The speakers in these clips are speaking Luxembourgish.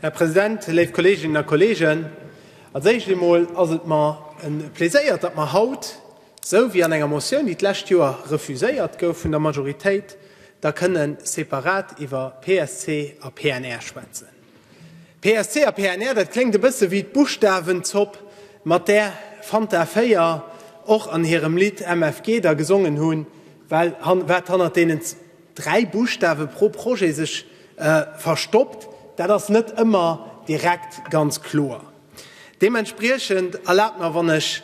Här President, léif Kolleginnen a Kollegen, als éischt emol ass et mer e Pleséier, datt mer haut, esou wéi an enger Motioun, déi d'lescht Joer refuséiert gouf vun der Majoritéit, da kënnen separat iwwer PSC a PNR schwätzen. PSC a PNR, dat kléngt e bësse wéi d'Buschtawenzopp, mat där Fanta 4 och an hirem Lidd MFG da gesongen hunn, well wat hannert deenen dräi Buschtawe pro Projet sech verstoppt, dat ass net ëmmer direkt ganz kloer. Deementspriechend, erlaabt mer, wann ech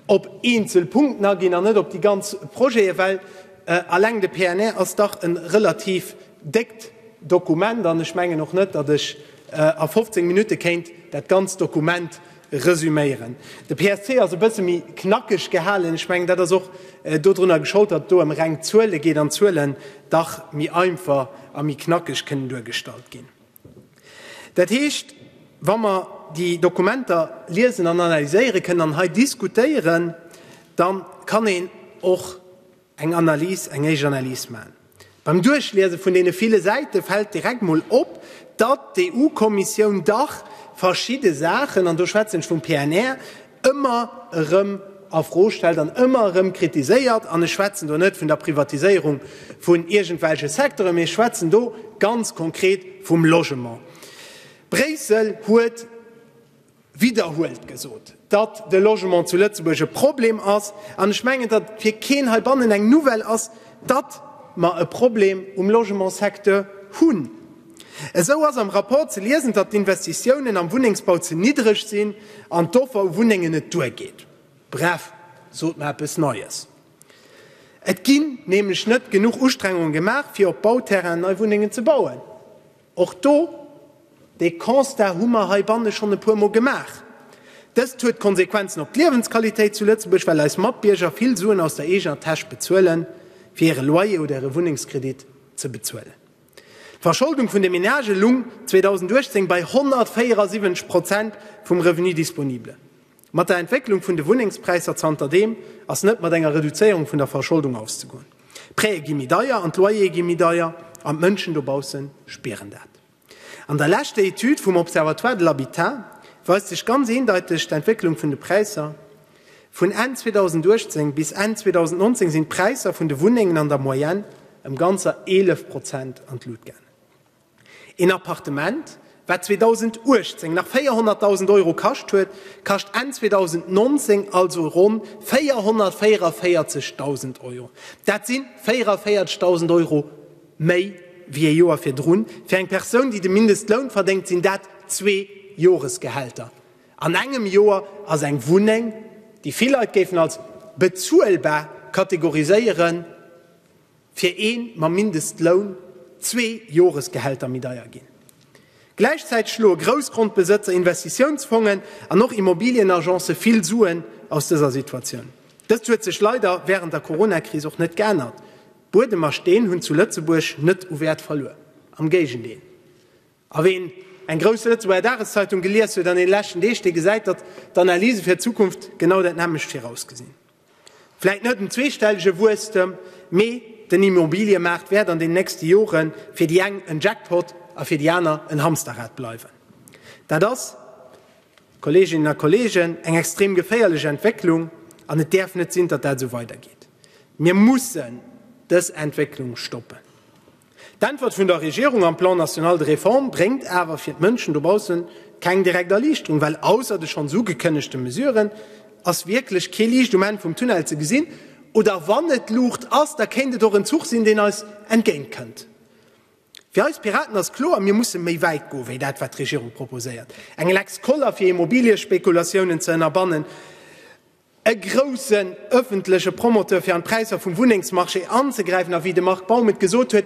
op eenzel Punkten aginn an net op déi ganz Projete, well eleng de PNR ass dach e relativ déckt Dokument an ech mengen och net, datt ech a 15 Minutte kéint dat ganzt Dokument resüméieren. De PSC ass e bësse méi knackeg gehalen. Ech mengen, dat ass och dodrunner geschold, datt et do ëm reng Zuele geet an d'Zuelen dach méi einfach a méi knackeg kënnen duergestallt ginn. Dat heescht, wa mer déi Dokumenter liesen an analyséiere kënnen an hei diskutéieren, da kann een och eng Analys, eng éischt Analys maachen. Beim Duerchliese vun deene ville Säite fält direkt emol op, datt d'EU-Kommissioun dach verschidde Saachen, an do schwätzen ech vum PNR, ëmmer erëm a Fro stellt an ëmmer erëm kritiséiert, an ech schwätzen do net vun der Privatiséierung vun iergendwelche Secteuren, mee ech schwätzen do ganz konkret vum Logement. Bréissel huet widderhuelt gesot, datt de Logement zu Lëtzebuerg e Problem ass, an ech mengen, datt et fir keen heibannen eng Nouvelle ass, datt mer e Problem um Logementssecteur hunn. Esou ass am Rapport ze liesen, datt d'Investitiounen am Wunnengsbau ze niddreg sinn an d'Offer u Wunnengen net duergeet. Bref, sot mer eppes Neies! Et ginn nämlech net genuch Ustrengungen gemaach, fir op Bauterrainen nei Wunnengen ze bauen. Och do, dee Constat hu mer heibanne schonn e puermol gemaach. Dëst huet Konsequenzen op d'Liewensqualitéit zu Lëtzebuerg, well eis Matbierger vill Suen aus der eegener Täsch bezuelen, fir hire Loyer oder hire Wunnengskredit ze bezuelen. D'Verscholdung vun de Menagë lung 2018 bei 174 Prozent vum Revenu disponible. Mat der Entwécklung vun de Wunnengspräisser zanterdeem ass net mat enger Reduzéierung vun der Verscholdung auszegoen. D'Prêtë gi méi deier an d'Loyere gi méi deier an d'Mënschen dobausse spieren dat. An der leschter Etüd vum Observatoire de l'habitat weist sech ganz eendeiteg d'Entwécklung vun de Präisser. Vun Enn 2018 bis Enn 2019 sinn d'Präisser vun de Wunnengen an der Moyenne ëm ganzer 11 Prozent an d'Lut gaangen. Een Appartement, wat 2018 nach 400.000 Euro kascht huet, kascht Enn 2019 also ronn 444.000 Euro. Dat si 44.000 Euro méi wéi e Joer virdrun. Fir eng Persoun, déi de Mindestloun verdéngt, sinn dat zwee Joresgehälter. An engem Joer ass eng Wunneng, déi vill Leit géifen als bezuelbar kategoriséieren, fir ee mam Mindestloun zwee Joresgehälter méi deier ginn. Gläichzäiteg schloe Groussgrondbesëtzer, Investitiounsfongen an och Immobilienagence vill Suen aus dëser Situatioun. Dëst huet sech leider wärend der Coronakris och net geännert. Buedem a Steen hunn zu Lëtzebuerg net u Wäert verluer, am Géigendeel. A ween eng grouss Lëtzebuerger Dageszeitung gelies huet an den leschten Deeg, dee gesäit, datt d'Analyse fir d'Zukunft genau dat nämmlecht virausgesinn. Vläit net en zweestellege Wuesstem, mee den Immobiliemaart wäert an den nächste Jore fir déi eng en Jackpot a fir déi aner en Hamsterrad bleiwen. Dat ass, Kolleeginnen a Kolleegen, eng extrem geféierlech Entwécklung an et däerf net sinn, datt dat esou weidergeet. Mir mussen dës Entwécklung stoppen. D'Äntwert vun der Regierung am Plan national de réforme bréngt awer fir d'Mënschen dobausse keng direkt Erliichterung, well ausser de schonns ugekënnegte Mesuren ass wierklech kee Liicht um Enn vum Tunnel ze gesinn. Oder wann et Luucht ass, da kéint et och en Zuch sinn, deen eis entgéint kënnt. Fir eis Piraten ass kloer, Mir musse méi wäit goen, wéi dat wat d'Regierung proposéiert. Eng Lex Koller fir Immobiliëspekulatiounen ze ënnerbannen, e groussen öffentleche Promoteur fir an d'Präisser vum Wunnengsmarché anzegräifen a wéi de Marc Baum et gesot huet,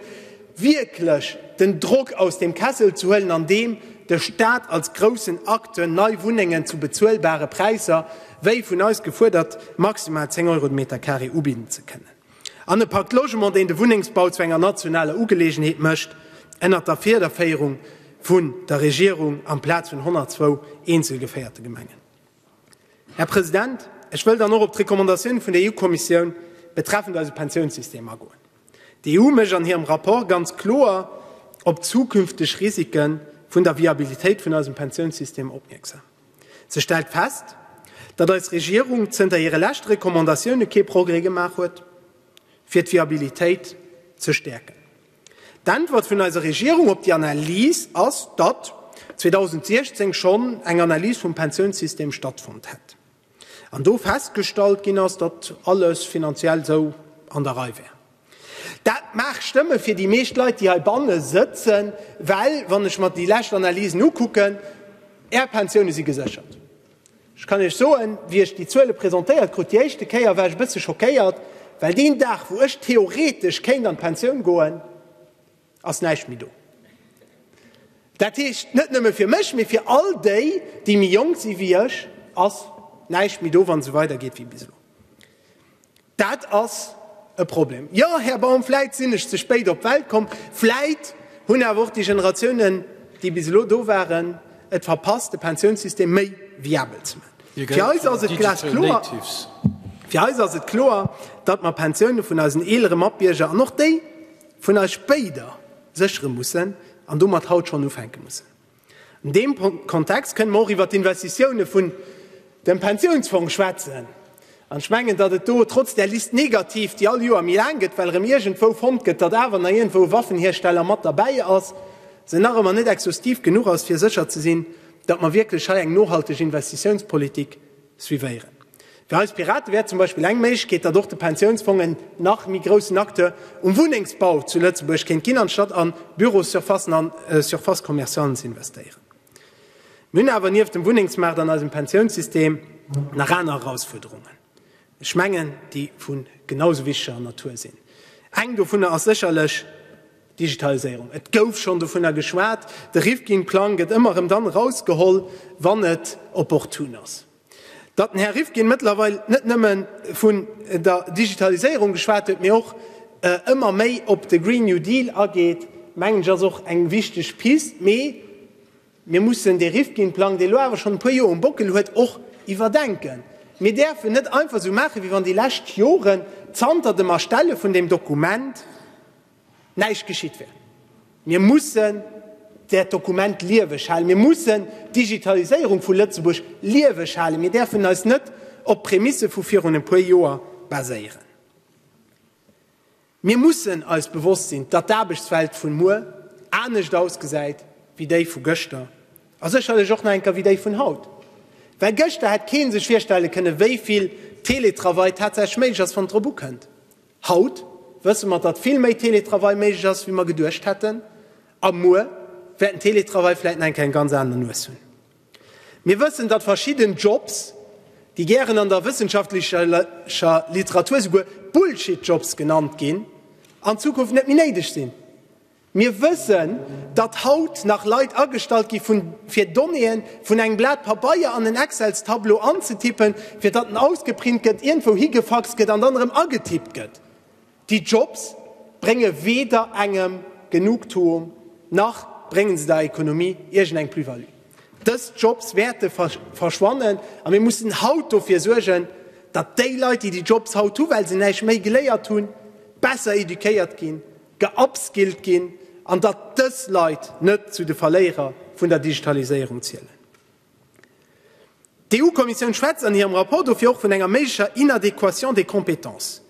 wierklech den Drock aus dem Kessel ze huelen, andeem de Stat als groussen Acteur nei Wunnengen zu bezuelbare Präisser, wéi vun eis gefuerdert, maximal 10 Euro de Meter carré ubidden ze kënnen, an e Pacte Logement, deen de Wunnengsbau zu enger nationaler Ugeleegenheet mécht, ënnert der Fiederféierung vun der Regierung, amplaz vun 102 eenzelgeféierte Gemengen. Här President, ech wëll dann och op d'Recommandatioun vun der EU-Kommissioun betreffend eise Pensiounssystem agoen. D'EU mécht an hirem Rapport ganz kloer op d'zukünfteg Risike vun der Viabilitéit vun eisem Pensiounssystem opmierksam. Se stellt fest, datt eis Regierung zënter hire leschte Recommandatioune kee Progrès gemaach huet, fir d'Viabilitéit ze stäerken. D'Äntwert vun eiser Regierung op déi Analys ass, datt 2016 schonn eng Analys vum Pensiounssystem stattfonnt hätt an do festgestallt ginn ass, datt alles finanziell esou an der Rei wär. Dat mag stëmme fir déi meescht Leit, déi heibanne sëtzen, well wann ech mer déi lescht Analysen ukucken, Är Pensioune si geséchert. Ech kann Iech soen, wéi ech déi Zuele presentéiert krut déi éischte Kéier, war ech e bësse schockéiert, well deen Dag, wou ech theoretesch kéint an d'Pensioun goen, ass näischt méi do. Dat heescht, net nëmme fir mech, mee fir all déi, déi méi jonk si wéi ech, ass näischt méi do, wann et esou weidergeet wéi bis elo. Dat ass e Problem. Jo, Här Baum, vläit sinn ech ze spéit op d'Welt komm, vläit hunn awer och déi Generatiounen, déi bis elo do waren, et verpasst, de Pensiounssystem méi viabel ze maachen. Fir eis ass et kloer, datt mer d'Pensioune vun eisen eelere Matbierger an och déi vun eis spéider séchere mussen an domat haut schonn ufänke mussen. An deem Kontext kënnen mer och iwwert d'Investitiounen vun dem Pensiounsfong schwätzen. An ech mengen, datt et do trotz där Liste négative, déi all Joer méi laang gëtt, well erëm iergendwou fonnt gëtt, datt awer nach iergendwou e Waffenhiersteller mat derbäi ass, se nach ëmmer net exhaustiv genuch ass, fir sécher ze sinn, datt mer wierklech hei eng nohalteg Investitiounspolitik suivéieren. Fir eis Piraten wär zum Beispill eng Méiglechkeet, datt och de Pensiounsfong en nach méi groussen Acteur um Wunnengsbau zu Lëtzebuerg kéint ginn, anstatt a Bürossurfacen an Surfaces commercialen ze investéieren. Mir hunn awer nieft dem Wunnengsmaart an eisem Pensiounssystem nach aner Erausfuerderungen, ech mengen, déi vu genausou wichtiger Natur sinn. Eng dovunner ass sécherlech, Digitaliséierung, et gouf schonn dovunner geschwat. De Rifkin-Plang gëtt ëmmer erëm dann erausgeholl, wann et opportun ass. Datt den Här Rifkin mëttlerweil net nëmme vun der Digitaliséierung geschwat huet, mee och ëmmer méi op de Green New Deal ageet, mengen ech ass och eng wichteg Pist. Mee mir mussen dee Rifkin-Plang, dee elo awer schonn e puer Joer um Bockel huet, och iwwerdenken. Mir däerfen net einfach esou maachen, wéi wann déi lescht Joren zanter dem Erstelle vun deem Dokument näischt geschitt wär. Mir mussen dat Dokument lieweg halen, mir mussen d'Digitaliséierung vu Lëtzebuerg lieweg halen, mir däerfen eis net op Prämisse vu virun e puer Joer baséieren. Mir mussen eis bewosst sinn, datt d'Aarbechtswelt vun muer anescht ausgesäit wéi déi vu gëschter a sécherlech och nach enker wéi déi vun haut, well gëschter hätt kee sech virstelle kënnen, wéi vill Teletravail tatsächlech méiglech ass, wann et drop ukënnt. Haut wësse mer, datt vill méi Teletravail méiglech ass, wéi mer geduecht hätten, a muer wäert den Teletravail vläicht nach eng Kéier eng ganz aner Nues hunn. Mir wëssen, datt verschidden Jobs, déi gären an der wëssenschaftlecher Literatur souguer Bullshit-Jobs genannt ginn, an Zukunft net méi néideg sinn. Mir wëssen, datt haut nach Leit agestallt gi vun, fir Donnéeën vun engem Blat Pabeier an en Excelstableau anzetippen, fir datt en ausgeprint gëtt, ierndwou higefaxt gëtt an dann erëm agetippt gëtt. Déi Jobs brénge weder engem Genugtuung, nach bréngen se der Économie iergendeng Plus-value. Dës Jobs wäerte verschwannen a mir mussen haut dofir suergen, datt déi Leit, déi déi Jobs haut hu well se näischt méi geléiert hunn, besser éduquéiert ginn, geupskillt ginn an datt dës Leit net zu de Verléierer vun der Digitaliséierung zielen. D'EU-Kommissioun schwätzt an hirem Rapport dofir och vun enger méiglecher Inadéquation des compétences.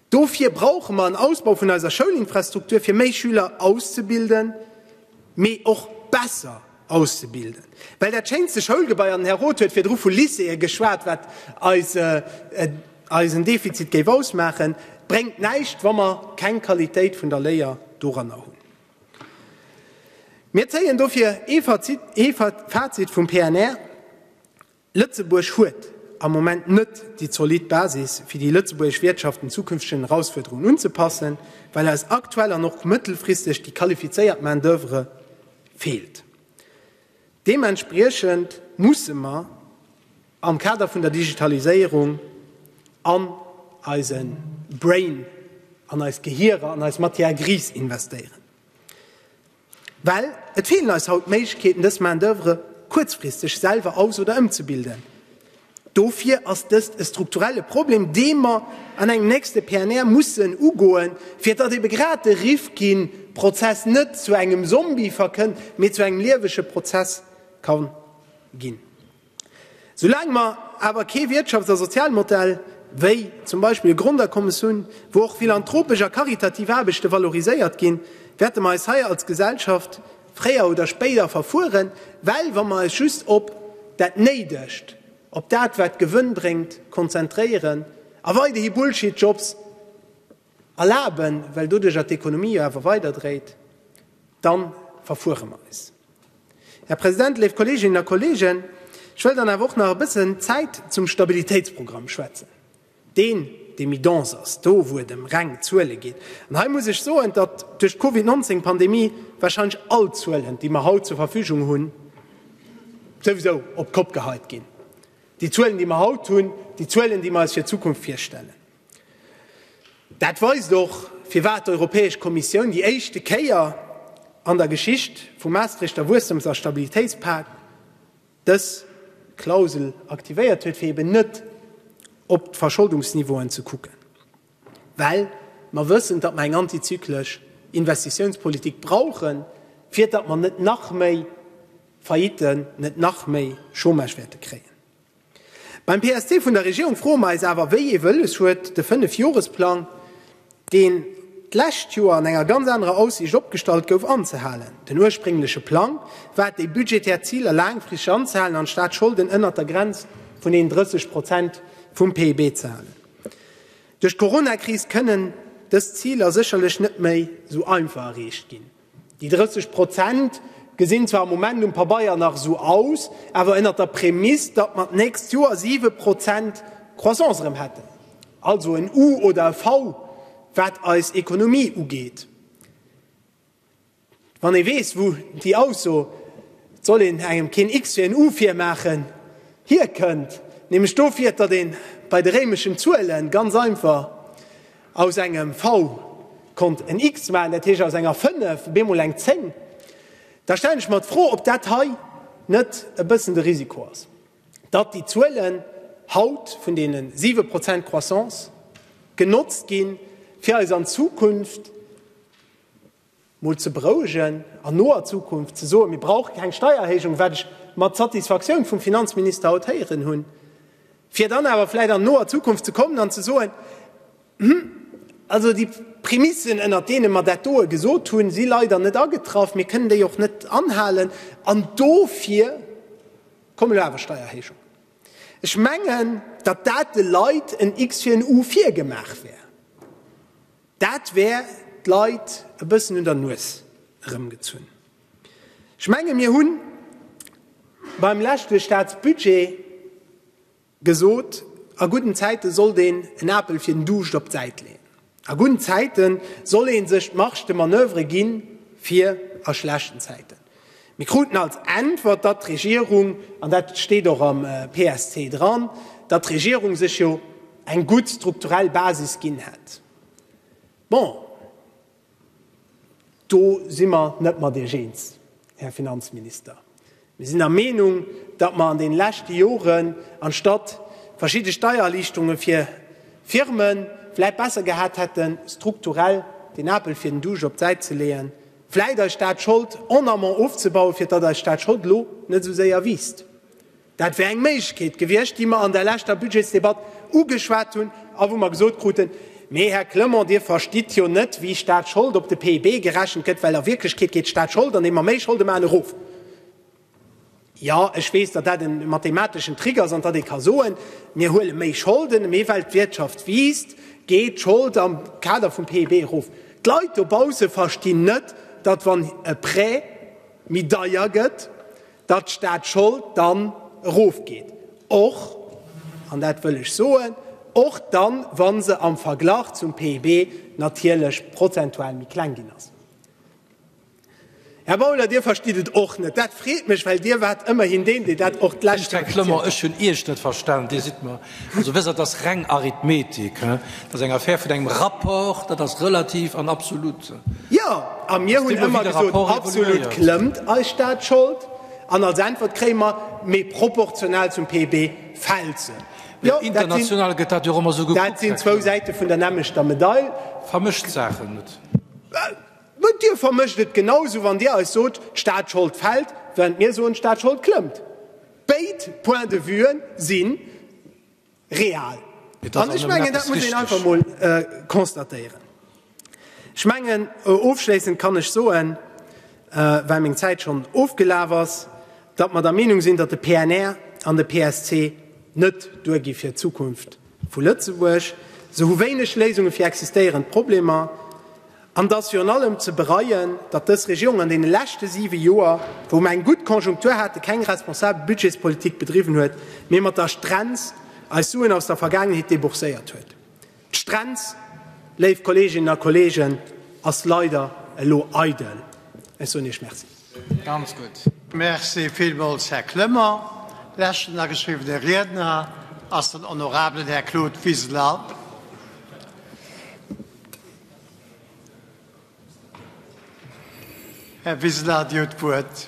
Dofir brauche mer en Ausbau vun eiser Schoulinfrastruktur, fir méi Schüler auszebilden, mee och besser. auszebilden, well dat schéinste Schoulgebai, an den Här Roth huet virdru vu Lycéeë geschwat, wat eisen Defizit géif ausmaachen, bréngt näischt, wa mer keng Qualitéit vun der Léier doranner hunn. Mir zéien dofir ee Fazit vum PNR, Lëtzebuerg huet am Moment net déi zolidd Basis, fir déi lëtzebuergesch Wirtschaft den zukünftegen Erausfuerderungen unzepassen, well eis aktuell an och mëttelfristeg déi qualifizéiert Main d'oeuvre feelt. Deementspriechend musse mer am Kader vun der Digitaliséierung an eise Brain, an eis Gehierer, an eis Matière grise investéieren. Well et feelen eis haut d'Méiglechkeeten, dës Main d'oeuvre kuerzfristeg selwer aus oder ëmzebilden. Dofir ass dëst e strukturelle Problem, dee mer an engem nächste PNR mussen ugoen, fir datt ebe grad de Rifkin-Prozess net zu engem Zombie verkënnt, mee zu engem liewege Prozess ka ginn. Soulaang mer awer kee Wirtschafts a Sozialmodell wéi zum Beispill e Grondakommes hunn, wou och philanthropesch a karitativ Aarbechte valoriséiert ginn, wäerte mer eis hei als Gesellschaft fréier oder spéider verfueren, well wa mer eis just op dat Néidegt, op dat wat Gewënn bréngt, konzentréieren a weiderhi Bullshit-Jobs Erlaben, well doduerjer d'Ekonomie jo awer weider dréit, da verfuere mer eis. Här President, léif Kolleeginnen a Kolleegen, ech wëll dann awer och nach e bëssen Zäit zum Stabilitéitsprogramm schwätzen, deen, dee méi dense ass, do wou et ëm reng Zuele geet. An hei muss ech soen, datt duerch d'Covid 19 Pandemie warscheinlech all d'Zuelen, déi mer haut zur Verfügung hunn, souwisou op d'Kopp geheit ginn, déi Zuelen, déi mer haut hunn, déi Zuelen, déi mer eis fir d'Zukunft virstellen. Dat weist och, firwat d'Europäesch Kommissioun déi éischte Kéier an der Geschicht vum Maastrichter Wuessstums a Stabilitéitspakt dës Klausel aktivéiert huet, fir eben net op d'Verscholdungsniveauen ze kucken, well mer wëssen, datt mer eng antizyklesch Investitiounspolitik brauchen, fir datt mer net nach méi Failliten, net nach méi Chômage wäerte kréien. Beim PSC vun der Regierung froe mer eis awer, wéi ee Wëlles huet de Fënnefjoresplang, deen d'lescht Joer an enger ganz anerer Aussiicht opgestallt gouf, anzehalen? Den urspréngleche Plang war et, déi budgetär Ziler laangfristeg anzehalen an d'Staatsscholden ënnert der Grenz vun den 30 Prozent vum PIB ze halen. Duerch d'Coronakris kënnen dës Ziler sécherlech net méi esou einfach erreecht ginn. Déi 30 Prozent gesinn zwar am Moment um Pabeier nach esou aus, awer ënnert der Prämiss, datt mer d'nächst Joer 7 Prozent Croissance erëm hätten, also en U oder e V, wat eis Ekonomie ugeet. Wann ee weess, wou déi Ausso, et soll een engem keen X fir en U virmaachen, hierkënnt, nämlech dofir, datt ee bei de réimeschen Zuele ganz einfach Aus engem V konnt en X maachen, dat heescht aus enger 5 op eemol eng 10. Da stellen ech mer d'Fro, ob dat hei net e bëssen de Risiko ass, datt déi Zuelen haut vun deene 7 Prozent Croissance genotzt ginn, fir eis an Zukunft, mol ze berouegen an noer Zukunft ze soen, mir brauche keng Steiererhéijung, wat ech mat Satisfaktioun vum Finanzminister haut héieren hunn, fir dann awer vläicht an noer Zukunft ze kommen an ze soen, Hm, also déi Prämissen, ënnert deene mer dat doe gesot hunn, si leider net agetraff, mir kënnen déi och net anhalen an dofir komme elo awer Steiererhéijungen. Ech mengen, datt dat de Leit en X fir en U virgemaach wär. Dat wär d'Leit e bëssen un der Nues erëmgezunn. Ech menge mir hu beim leschte Staatsbudget gesot, a gudden Zäite sollt een en Apel fir den Duuscht op d'Säit leeën. A gudden Zäite soll ee sech d'Marge de manoeuvre gi fir a schlechten Zäiten. Mir kruten als Äntwert, datt d'Regierung, an dat steet och am PSC dran, datt d'Regierung sech jo eng gutt strukturell Basis ginn hätt. Bon, do si mer net mat Iech eens, Här Finanzminister. Mir sinn der Meenung, datt mer an deene leschte Joren, anstatt verschidde Steiererliichterunge fir Firmen, vläicht besser gehat hätten, strukturell den Apel fir den Duuscht op d'Säit ze leeën, Vläit eis Staatschold en amont ofzebauen, fir datt eis Staatschold elo net esou séier wiisst. Dat wär eng Méiglechkeet gewiescht, déi mer an der leschter Budgetsdebatt ugeschwat hunn a wou mer gesot kruten, Mee Här Clement, Dir verstitt jo net, wéi Staatschold op de PIB gerechent gëtt, well a Wierklechkeet geet d'Staatschold, andeem mer méi Scholde maachen, erof. Jo, ech weess, datt dat e mathemateschen Trick ass an datt ee ka soen, mir huele méi Scholden, mee well d'Wirtschaft wiisst, geet d'Schold am Kader vum PIB erof. D'Leit dobausse verstinn net, datt wann e Prêt méi deier gëtt, datt d'Staatschold dann erofgeet, och, an dat wëll ech soen, och dann, wa se am Verglach zum PIB natierlech prozentual méi kleng ginn ass. Här Bauler, Dir verstitt et och net. Dat freet mech, well Dir waart ëmmerhin deen, dee dat och d'lescht Joer kritiséiert huet. Ech hunn Iech net verstanen. Dir sidd mer, also wësst Der, dat ass reng Arithmetik. Dat ass eng Affär vun engem Rapport, dat ass relativ an absolut. Jo, a mir hunn ëmmer gesot, absolut klëmmt eis Staatsschold, an als Äntwert kréie mer, mee proportional zum PIB fält se. Jo, dat sinn zwou Säite vun der nämmlechter Medail. Vermëscht d'Saachen net. Mee Dir vermëscht et genau sou, wann Dir eis sot, d'Staatsschold fält, während mir soen, d'Staatsschold klëmmt. Béid Points de vue si real. An ech mengen, dat muss een einfach emol constatéieren. Ech mengen, ofschléissend kann ech soen, well meng Zäit schonn ofgelaf ass, datt mer der Meenung sinn, datt de PNR an de PSC net duergi fir d'Zukunft vu Lëtzebuerg, se hu wéineg Léisunge fir existéierend Problemer, an et ass virun allem ze bereien, datt dës Regierung an deene leschte siwe Joer, wou mer eng gutt Konjunktur hate, keng responsabel Budgetspolitik bedriwwen huet, mee mat der Strenz eis Suen aus der Vergaangenheet debourséiert huet. D'Strenz, léif Kolleeginnen a Kolleegen, ass leider elo eidel. Ech soen Iech Merci. Ganz gutt. Merci villmools, Här Clement. Leschten ageschriwwene Riedner ass den honorabelen Här Claude Wiseler. Här Wiseler, Dir hutt d'Wuert.